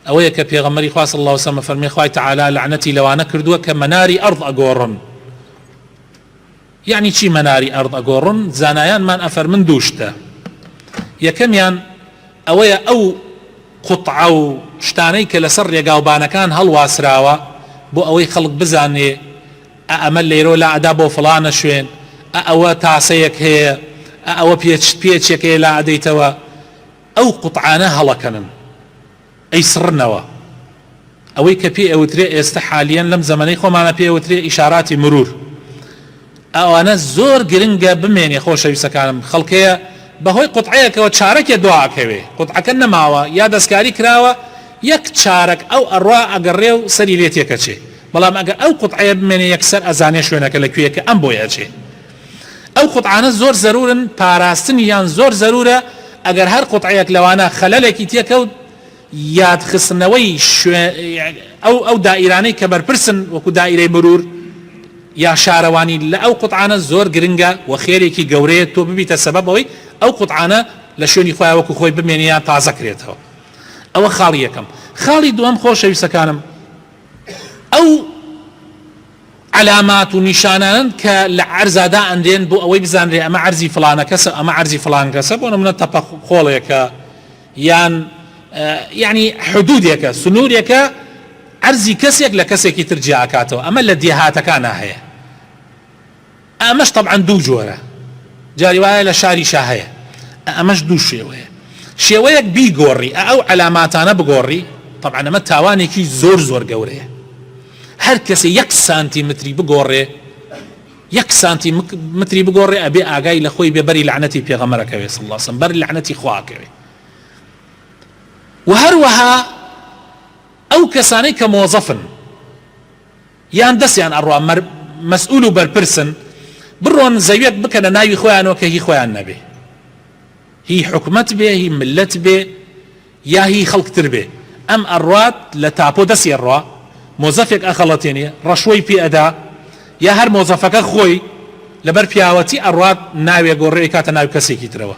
ئەوەیە کە پێغەمبەری خوا صلی اللە علیە و سلم فەرمی خوای تعالی لەعنەتی لەوانە کردووە کە مەناری ئەرض ئەگۆڕن یعنی چی مەناری ئەرض ئەگۆڕن زانایانمان ئەفەرمن دوو شتە یەکەمیان ئەوەیە ئەو قوتعە و شتانەی کە لەسەر ڕێگاوبانەکان هەڵواسراوە بۆ ئەوەی خەڵک بزانێ ئەمە لێرۆ لا ئەدا بۆ فلانە شوێن ئەوە تاسەیەک هەیە ئەوە پێچ پێچێکەیە لا ئەدەیتەوە ئەو قوتعانە هەڵەکەنن ئەیسڕنەوە. ئەوەی کە پێی ئەوترێ ئێستە حالیەن لەم زەمەنەی خۆمانا پێی ئەوترێ ئیشاراتی مرور. ئەوانە زۆر گرنگە بمێنێ خۆشەویستەکانم. خەڵکەیە بە هۆی قوتعەیەکەوە چارەکێ دوا ئەکەوێ. قوتعەکە نەماوە یا دەسکاری کراوە یەک چارەک ئەو ئەڕوا ئەگەڕێ و سەری لێ تێکەچێ. بەڵام ئەگەر ئەو قوتعەیە بمێنێ یەکسەر ئەزانێ شوێنەکە لە کوێیە کە ئەم بۆی ئەچێ. ئەو قوتعانە زۆر زەرورن پاراستنی یان زۆر زەرورە ئەگەر هەر قوتعەیەک لەوانە خەلەلێکی تێکەوت یاد خستنەوەی شوێ ئەو ئەو دائیرانەی کە بەرپرسن وەکو دائیرەی مرور یا شارەوانی لە ئەو قوتعانە زۆر گرنگە و خێرێکی گەورەیە تۆ ببیتە سەبەب ئەوەی ئەو قوتعانە لە شوێنی خۆیان وەکو خۆی بمێنێ یان تازە کرێتەوە ئەوە خاڵی یەکەم خاڵی دووەم خۆشەویستەکانم ئەو عەلامات و نیشانانەن کە لە عەرزا دائەنرێن بۆ ئەوەی بزانرێ ئەمە عەرزی فڵانە کەسە ئەمە عەرزی فڵان کەسە بۆ نمونە تەپە خۆڵێکە یان یانی حدودێکە سنورێکە عەرزی کەسێک لە کەسێکی تر جیاکاتەوە ئەمە لە دێهاتەکانا هەیە. ئەمەش تەبعەن دوو جۆرە جاری وایە لە شاری شا هەیە ئەمەش دوو شێوەیە شێوەیەک بیگۆڕی ئە ئەو عەلاماتانە بگۆڕی تەبعەن ئەمە تاوانێکی زۆر زۆر گەورەیە هەر کەسێ یەک سانتی متری بگۆڕێ یەک سانتی متری بگۆڕێ ئەبێ ئاگای لە خۆی بێ بەری لەعنەتی پێغەمەرەکەوێ صلی الله بەر لەعنەتی خواکەوێ و هەروەها ئەو کەسانەی کە مۆزەفن یان دەسیان ئەڕوا مەر مەسئول و بەرپرسن بڕۆن زەویەک بکەنە ناوی خۆیانەوە کە هی خۆیان نەبێ هی حکومەت بێ هی ملەت بێ یا هی خەڵک تر بێ ئەم ئەڕات لە تاپۆ دەسی ئەڕا مۆزەفێک ئەخەڵەتێنێ ڕەشوەی پێ ئەدا یا هەر مۆزەفەکە خۆی لەبەر پیاوەتی ئەڕات ناوێ گۆڕێ ئەیکاتە ناوی کەسێکی ترەوە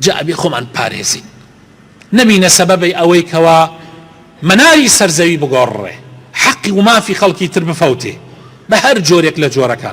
جا ئەبێ خۆمان پارێزین نەبینە سەبەبەی ئەوەی کەوا مەناری سەرزەوی بگۆڕڕێ حەقی ومافی خەڵکی تر بفەوتێ بە هەر جۆرێک لە جۆرەکان